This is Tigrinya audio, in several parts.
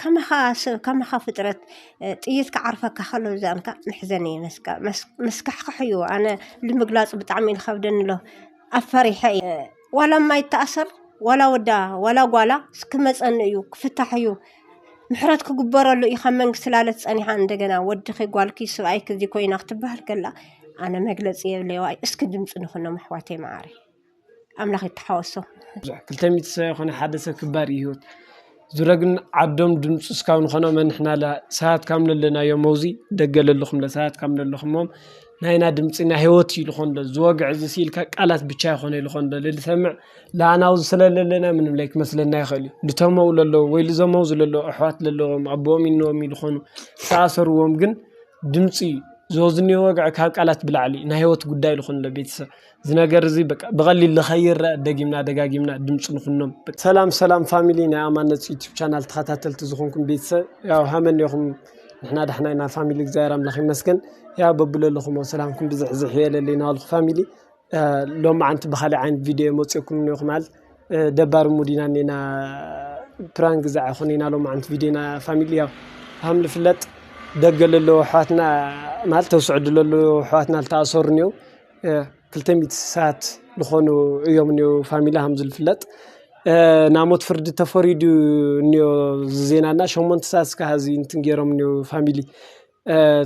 ከማኻ ከማኻ ፍጥረት ጥይት ክዓርፈካ ከሎ ዝዛምካ መሕዘኒ እዩ መስካ መስካሕክሕ እዩ ኣነ ንምግላፁ ብጣዕሚ እዩ ዝኸብደኒ ኣሎ ኣብ ፈሪሐ እየ ዋላ ማይ ይተኣሰር ዋላ ወዳ ዋላ ጓላ ክመፀኒ እዩ ክፍታሕ እዩ ምሕረት ክግበረሉ እዩ ካብ መንግስቲ ላለት ፀኒሓ እንደገና ወድኺ ጓልኪ ስብኣይኪ እዚ ኮይና ክትበሃል ከላ ኣነ መግለፂ የብለይ ዋይ እስኪ ድምፂ ንኹኖም ኣሕዋተይ መዓረይ ኣምላኽ ይተሓወሶ። ክልተ ሚእቲ ሰብ ኣይኮነን ሓደ ሰብ ክባር እዩ ህይወት ዙረ ግን ዓዶም ድምፂ እስካብ ንኾኖም ኣንሕናለ ሰባት ካብ ለለናዮ መውዚ ደገ ለለኹም ሰባት ካብ ለለኹሞም ናይና ድምፂ ናይ ህይወት እዩ ልኾን ዶ ዝወግዕ እዚ ሲ ኢልካ ቃላት ብቻ ኣይኮነ ልኾን ዶ ልሰምዕ ለኣናዊ ዝስለ ለለና ምንም ለይ ክመስለና ይኸል እዩ ልተመው ለለዉ ወይ ልዘመው ዝለለ ኣኅዋት ለለዎም ኣቦኦም ኢንዎም ኢልኾኑ ተኣሰርዎም ግን ድምፂ እዩ ዝወዝኒ ወግዕ ካብ ቃላት ብላዕሊ ናይ ህይወት ጕዳይ ልኾን ዶ ቤተሰብ እዚ ነገር እዚ በቃ ብቐሊል ንኸይረአ ደጊምና ደጋጊምና ድምፂ ንኹኖም። ሰላም ሰላም ፋሚሊ ናይ ኣማነት ዩቱብ ቻናል ተኸታተልቲ ዝኾንኩም ቤተሰብ ያው ሃመን ኔኹም ንሕና ዳሕና ኢና ፋሚሊ እግዚኣብሔር ኣምላኽ ይመስገን ያው በብለለኹሞ ሰላምኩም ብዝሕ ዝሕ የለለ ይናበልኩ ፋሚሊ ሎማዓንቲ ብኻሊእ ዓይነት ቪድዮ መፂኦኩም ኔኹም ኣል ደባሪ ሙድ ኢና ኔና ፕራንክ ግዛዕ ይኹን ኢና ሎማዓንቲ ቪድዮ ኢና ፋሚሊ ያው ሃም ልፍለጥ ደገ ለለዎ ኣሕዋትና ማለት ተውስዕዱ ለለዎ ኣሕዋትና ልተኣሰሩ ኔው ክልተ ሚእቲ ስሳት ልኾኑ እዮም እኔዉ ፋሚሊ ሃምዝ ልፍለጥ ናሞት ፍርዲ ተፈሪዱ እኔዮ ዝዜና እና ሸሞንት ሳት ስካ ሕዚ እንትንጌሮም እኔዉ ፋሚሊ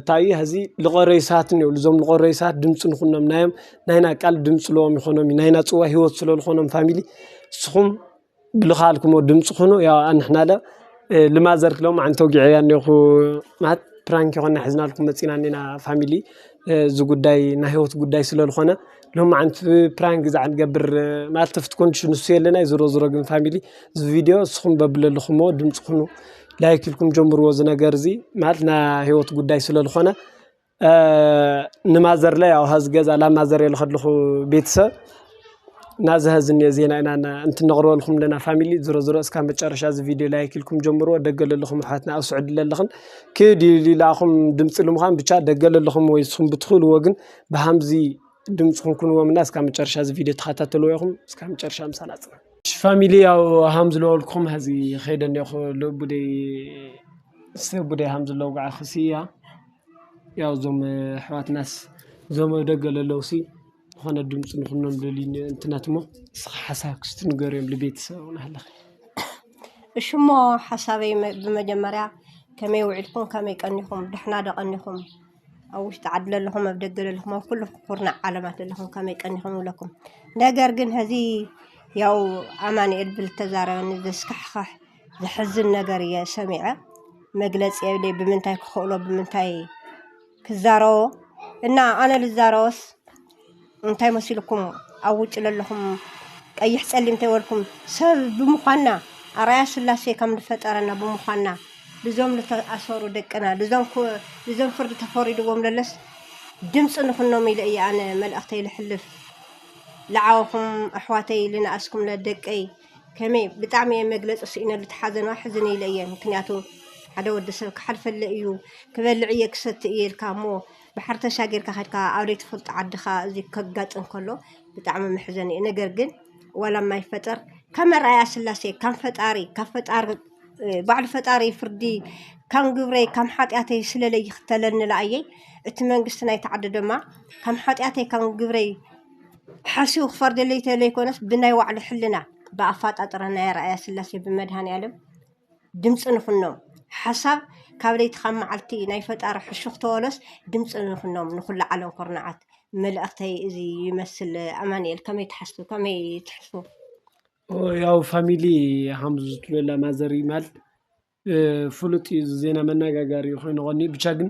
ታዩ ሕዚ ልቐረዩ ሳት እኔው ልዞም ልቐረዩ ሳት ድምፂ ንኹኖም ናዮም ናይና ቃል ድምጽ ለዎም ይኾኖም ናይና ጽዋ ሕይወት ስለ ልኾኖም ፋሚሊ ስኹም። ብልኻልኩሞ ድምጽ ኹኑ ያው ኣንሕናለ ልማዘርክ ሎምዓንቲ ተውጊዐያ እኔኹ ማለት ፕራንክ ይኾና ሒዝናልኩም መጺና እኔና ፋሚሊ እዚ ጉዳይ ናይ ሂወት ጉዳይ ስለ ዝኾነ ሎምዓንቲ ፕራንክ ግዛዕ ንገብር ማለት ኣብቲ ኮንድሽን ንሱ የለን ኣዩ ዞሮ ዞሮ ግን ፋሚሊ እዚ ቪድዮ ንስኹም በብለለኹሞ ድምጽ ኹኑ ላይክ ኢልኩም ጀምርዎ እዚ ነገር እዚ ማለት ናይ ሂወት ጉዳይ ስለ ዝኾነ ንማዘርለይ ኣብ ሀዚ ገዛ ናብ ማዘር እየ ልኸድልኹ ቤተሰብ ናዚ ሀዚ እኒ ዜና ኢና እንትነቕርበልኹም ለና ፋሚሊ ዝሮ ዝሮ እስካ መጨረሻ እዚ ቪድዮ ላይክ ኢልኩም ጀምርዎ ደገ ለለኹም ኣሕዋትና ኣብ ስዑዲ ለለኽን ክዲ ኢላኹም ድምፂ ልምዃን ብቻ ደገ ለለኹም ወይ ንስኹም ብትኽእልዎ ግን ብሃምዚ ድምፅኹም ኩንዎም እና እስካ መጨረሻ እዚ ቪድዮ ተኸታተልዎ ኢኹም እስካ መጨረሻ ምሳና ፅና ፋሚሊ ያው ሃም ዝለወልኩም ሀዚ ኸይደ እኒኹ ለቡደይ ሰብ ቡደይ ሃም ዝለውግዓ ክስያ ያው እዞም ኣሕዋትናስ እዞም ኣብ ደገ ለለውሲ ዝኾነ ድምፂ ንኹኖም ልብል እዩ እንተ ናት እሞ ንስኻ ሓሳብክ እስቲ ንገርዮም ልቤተሰብ ናህለኸ። እሺ እሞ ሓሳበይ መ- ብመጀመርያ ከመይ ውዒልኩም ከመይ ቀኒኹም ዳሕና ዶ ቀኒኹም ኣብ ውሽጢ ዓዲ ለለኹም ኣብ ደገ ለለኹም ኣብ ኩሉ ኩርናዕ ዓለማት ለለኹም ከመይ ቀኒኹም ይብለኩም ነገር ግን ሀዚ ያው ኣማንኤል ብልተዛረበኒ ዘስካሕኽሕ ዘሕዝን ነገር እየ ሰሚዐ መግለጺ የብለይ ብምንታይ ክኽእሎ ብምንታይ ክዛረቦ እና ኣነ ልዛረቦስ እንታይ መሲልኩም ኣብ ውጭ ለለኹም ቀይሕ ጸሊም እንተይበልኩም ሰብ ብምዃንና ኣርኣያ ስላሴ ከም ዝፈጠረና ብምዃንና ልዞም ዝተኣሰሩ ደቅና ልዞም ፍርዲ ተፈሪድዎም ለለስ ድምፂ ንኹኖም ኢለ እየ ኣነ መልእኽተይ ልሕልፍ ልዓወኹም ኣሕዋተይ ልንኣስኩም ለደቀይ ከመይ ብጣዕሚ እየ መግለፂ ስኢነሉ እቲ ሓዘን ሕዝን ኢለ እየ ምክንያቱ ሓደ ወዲ ሰብ ክሓልፈለ እዩ ክበልዕ እየ ክሰቲ እየ ኢልካ እሞ ባሕሪ ተሻጊርካ ከድካ ኣብ ዘይትፈልጦ ዓድኻ እዚ ከጋጥም ከሎ ብጣዕሚ መሕዘኒ እዩ ነገር ግን ዋላ የማይፈጠር ከም ኣርኣያ ስላሴ ከም ፈጣሪ ካብ ፈጣሪ ባዕሉ ፈጣሪ ፍርዲ ከም ግብረይ ከም ሓጢኣተይ ስለለይ ይኽተለኒ ለኣየይ እቲ መንግስቲ ናይቲ ዓዲ ድማ ከም ሓጢኣተይ ከም ግብረይ ሓሲቡ ክፈርደለይ ተለይኮነስ ብናይ ባዕሉ ሕልና ብኣፋጣጥራ ናይ ኣርኣያ ስላሴ ብመድሃኒኣለም ድምፂ ንኹኖም ሓሳብ ካብ ለይቲ ካብ መዓልቲ ናይ ፈጣሪ ሕሹኽ ተበሎስ ድምፂ ንኹኖም ንኹሉ ዓለም ኩርናዓት መልእኽተይ እዚ ይመስል ኣማንኤል ከመይ ትሓስቡ ከመይ ትሕስቡ ያው ፋሚሊ ሃምዙ ዝትሎላ ማዘሪ ማል ፍሉጥ እዩ እዚ ዜና መነጋገሪ ኮይኑ ቀንዩ ብቻ ግን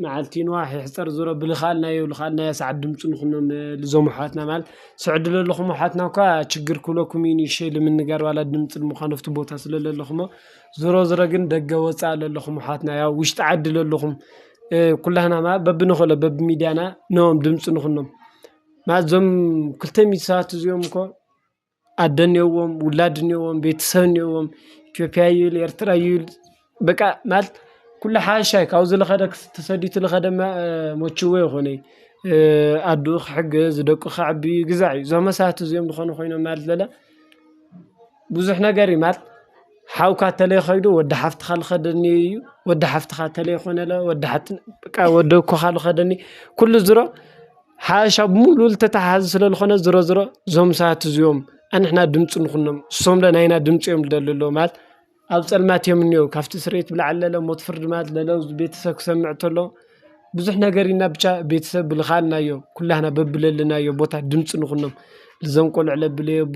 መዓልቲ ይንዋሕ ይሕፀር ዙሮ ብዝኸኣልናዮ ዝኸኣልናዮ ሰዓት ድምፂ ንኹኖም ልዞም ኣሕዋትና ማለት ስዕዲ ለለኹም ኣሕዋትና እኳ ችግር ክብለኩም እዩ ንእሽተይ ልምንጋር ዋላ ድምፂ ልምዃን ኣፍቲ ቦታ ስለ ለለኹሞ ዙሮ ዙሮ ግን ደገ ወፃኢ ለለኹም ኣሕዋትና ያው ውሽጢ ዓዲ ለለኹም ኩላህና ማለት በብንኽእሎ በብሚድያና ን ድምፂ ንኹኖም ማለት እዞም ክልተ ሚእቲ ሰባት እዚኦም እኮ ኣደ እኒኦዎም ውላድ እኒኦዎም ቤተሰብ እኒኦዎም ኢትዮጵያ ይብል ኤርትራ ይብል በቃ ማለት ኩሉ ሓሻይ ካብዚ ዝኸደ ተሰዲቱ ዝኸደ መችው ኣይኮነ እዩ። ኣዱኡ ክሕግዝ ደቁ ከዕቢ ግዛዕ እዩ። እዞም መሳቱ እዚኦም ዝኾኑ ኮይኖም ማለት ለለ ብዙሕ ነገር እዩ። ሓውካ ተለይ ኸይዱ ወዲ ሓፍትኻ ልኸደኒ እዩ ወዲ ሓፍትኻ ተለይ ኾነ ለ ወዲ ሓት በቃ ወዲ እኮኻ ልኸደኒ ኲሉ ዝሮ ሓዋሻ ብምሉ ልተተሓሓዝ ስለ ልኾነ ዝሮ ዝሮ ዞም ሰባት እዚኦም ኣንሕና ድምፂ ንዂኖም እሶምለ ናይና ድምፂ እዮም ልደሊ ኣለዉ ማለት ኣብ ጸልማት እዮም እኔዉ ካብቲ ስርየት ብለዓል ለለ ሞት ፍርድ ማለት ለለው ቤተሰብ ክሰምዕ ተሎ ብዙሕ ነገር ኢና ብቻ ቤተሰብ ብልኻልና እዮም ኲላህና በብለለናዮ ቦታ ድምፂ ንዂኖም ልዘንቆልዑ ለብለይ ኣቦ።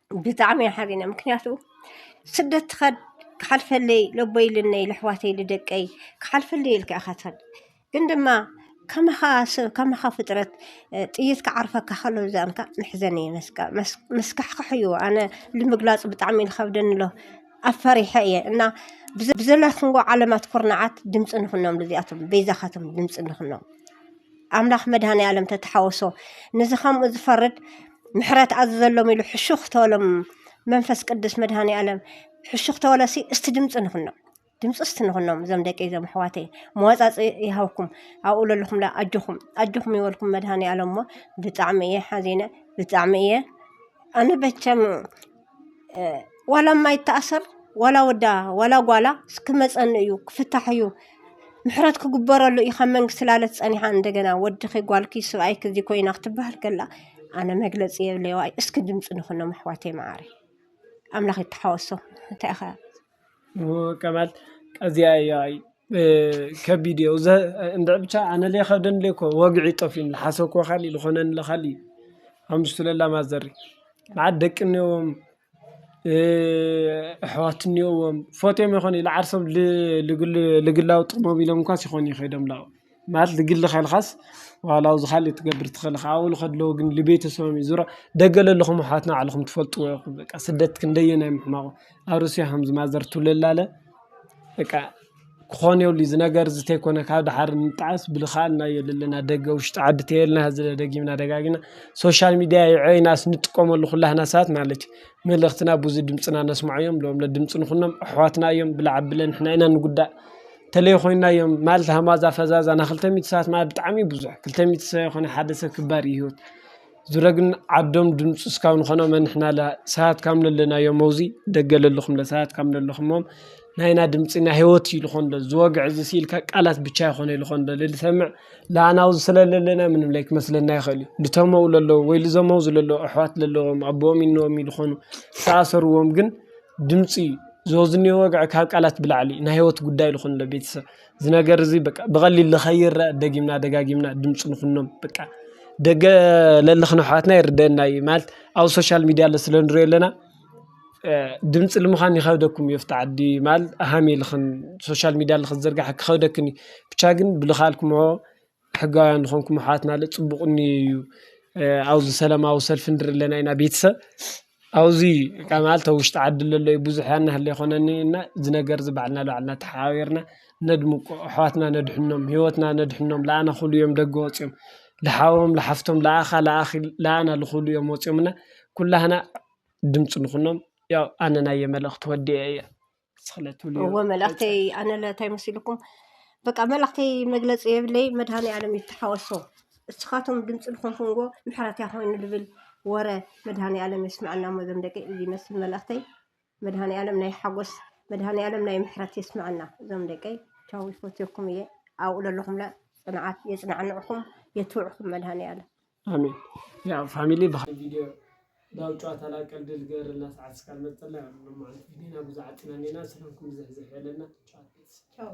ብጣዕሚ እየ ሓዚነ ምክንያቱ ስደት ትኸድ ክሓልፈለይ ለቦይ ኢልነይ ልሕዋተይ ልደቀይ ክሓልፈለይ ኢልካ ኢኻ ትኸድ ግን ድማ ከማኻ ሰብ ከማኻ ፍጥረት ጥይት ክዓርፈካ ከሎ ዛንካ መሕዘኒ መስካ መስካሕክሕ እዩ ኣነ ንምግላፁ ብጣዕሚ ዝኸብደኒ ኣሎ ኣፈሪሐ እየ እና ብዘለክንጎ ዓለማት ኩርናዓት ድምፂ ንኹኖም ልዚኣቶም በይዛኻቶም ድምፂ ንኹኖም ኣምላክ መድሃኒኣለም ተተሓወሶ ንዚ ከምኡ ዝፈርድ ምሕረት ኣዝዘሎም ኢሉ ሕሹኽ ተበሎም መንፈስ ቅዱስ መድሃኒኣለም ሕሹኽ ተበለሲ እስቲ ድምፂ ንኹኖም ድምፂ እስቲ ንኹኖም እዞም ደቂ እዞም ኣሕዋተይ መዋፃፂ ይሃብኩም ኣብኡ ለለኹምላ ኣጆኹም ኣጆኹም ይበልኩም መድሃኒኣለም እሞ ብጣዕሚ እየ ሓዚነ ብጣዕሚ እየ ኣነ በቸም ዋላ ማይ ይታኣሰር ዋላ ወዳ ዋላ ጓላ ክመፀኒ እዩ ክፍታሕ እዩ ምሕረት ክግበረሉ እዩ ካብ መንግስቲ ላለት ፀኒሓ እንደገና ወድኺ ጓልኪ ስብኣይኪ እዚ ኮይና ክትባሃል ከላ ኣነ መግለፂ የብለይ ዋይ እስኪ ድምፂ ንኹኖም ኣሕዋተይ መዓረይ ኣምላኽ ይተሓወሶ እንታይ ኢኺ ከማል ኣዚያ እያ ከቢድ እዮ እንድዒ ብቻ ኣነ ለይ ይከብደኒ ኣሎ እኮ ወግዒ ጠፊኡኒ ልሓሰብክዎ ካሊእ ልኮነኒ ዘሎ ካሊእ እዩ ኣብ ውሽጢ ለላ ማዘር መዓት ደቂ እንየዎም ኣሕዋት እንየዎም ፈትዮም ይኮኑ ኢዩ ልዓርሶም ልግላዊ ጥቅሞም ኢሎም እኳስ ይኮኑ ኢዩ ከይዶም ላብኦም። ማለት ንግሊ ከልኻስ ዋላ ኣብዚ ካልእ ክትገብር ትኽእል ኢኻ ኣብኡ ልኸድ ኣለዎ ግን ልቤተሰቦም እዩ ዙሮ ደገ ለለኹም ኣሕዋትና ባዕልኹም ትፈልጥዎ ኢኹም በቃ ስደት ክንደየናይ ምሕማቑ ኣብ ሩስያ ከምዚ ማዘር ትብለላ ኣለ በቃ ክኾን የብሉ እዩ እዚ ነገር እዚ ተይኮነ ካብ ደሓር ንጣዓስ ብልኻልና እዩ ለለና ደገ ውሽጢ ዓዲ ተየልና እዚ ደጊምና ደጋጊምና ሶሻል ሚድያ የዐይናስ ንጥቀመሉ ኹላህና ሰባት ማለት እዩ መልእኽትና ብዙይ ድምጽና ነስምዖ እዮም ሎም ድምጽ ንኹኖም ኣሕዋትና እዮም ብላዕ ኣብለን ንሕና ኢና ንጉዳእ። ተለይ ኮይና እዮም ማለት ሃማዛ ፈዛዛ ን ክልተ ሚእቲ ሰባት ማለት ብጣዕሚ እዩ ብዙሕ ክልተ ሚእቲ ሰብ ኣይኮነን ሓደ ሰብ ክባር እዩ ሂወት ዙረ ግን ዓዶም ድምፂ እስካብ ንኮኖም ንሕና ሰባት ካብ ለለናዮ መውዚ ደገ ለለኩም ሰባት ካብ ለለኩሞ ናይና ድምፂ ናይ ሂወት እዩ ዝኮን ዘሎ ዝወግዐ እዚ ስኢል ካብ ቃላት ብቻ ኣይኮን ዝኮን ዘሎ ዝሰምዕ ንዓና ኣብዚ ስለ ለለና ምንም ለይክመስለና ይክእል እዩ ልተመው ለለው ወይ ልዘመው ለለው ኣሕዋት ለለዎም ኣቦኦም እኖኦም እዩ ዝኮኑ ዝተኣሰርዎም ግን ድምፂ ዝወዝኒ ወግዐ ካብ ቃላት ብላዕሊ ናይ ህይወት ጉዳይ ልኾኑ ለቤት ሰብ ዝነገር እዙይ በቃ ብቐሊል ልኸይረ ደጊምና ደጋጊምና ድምፁ ንኹኖም በቃ ደገ ለልኽነ ኅዋትና ይርደና እይ ማልት ኣብ ሶሻያል ሚዲያ ለ ስለንሩ የለና ድምፂ ልምዃን ይኸብደኩም የፍቲ ዓዲ ማል ሃም የልኽን ሶሻያል ሚዲያ ልኽዘርግሕ ክኸብደክን ብቻግን ብልኻልኩምዎ። ሕጋውያን ዝኾንኩም ኣሕዋትና ለ ፅቡቕ እኒኦ እዩ። ኣብዚ ሰላማዊ ሰልፊ ንርኢ ኣለና ኢና ቤተሰብ ኣብዚ ማለት ኣብ ውሽጢ ዓዲ ለሎ እዩ ብዙሕ ያን ያህል ኣይኮነን እዩ እና እዚ ነገር እዚ ባዕልና ንባዕልና ተሓባቢርና ነድምቆ ኣሕዋትና ነድሕኖም ሂወትና ነድሕኖም ለኣና ክብሉ እዮም ደገ ወፅዮም ለሓዎም ለሓፍቶም ለኣኻ ለኣኺ ለኣና ልኽብሉ እዮም ወፅዮም እና ኩላህና ድምፂ ንኹኖም ያው ኣነ ናየይ መልእኽቲ ወዲኤ እየ። እዎ መልእክተይ ኣነለ እንታይ መሲልኩም በቃ መልእክተይ መግለፂ የብለይ መድሃኒኣለም ይተሓወሶ እስኻቶም ድምፂ ዝኾንኩምዎ ምሕረት እያ ኮይኑ ዝብል ወረ መድሃኒኣለም የስመዐና እሞ ዞም ደቂ እዚ ይመስል መልእክተይ መድሃኒኣለም ናይ ሓጎስ መድሃኒኣለም ናይ ምሕረት የስመዐና ዞም ደቀይ ቻው ይፈትየኩም እየ ኣብኡ ዘለኹምለ ፅንዓት የፅናዕንዕኹም የትብዕኹም መድሃኒኣለም ኣሜን ያው ፋሚሊ ብሃይ ቪድዮ ዳው ጨዋታ ላ ቀልዲ ልገርልና ሰዓት ስካል መጸላ ያ ሎ ማዓንቲ ዲና ብዙ ዓጢና ኔና ሰላምኩም ብዘሕ ዘሕ በለና ቻው ቻው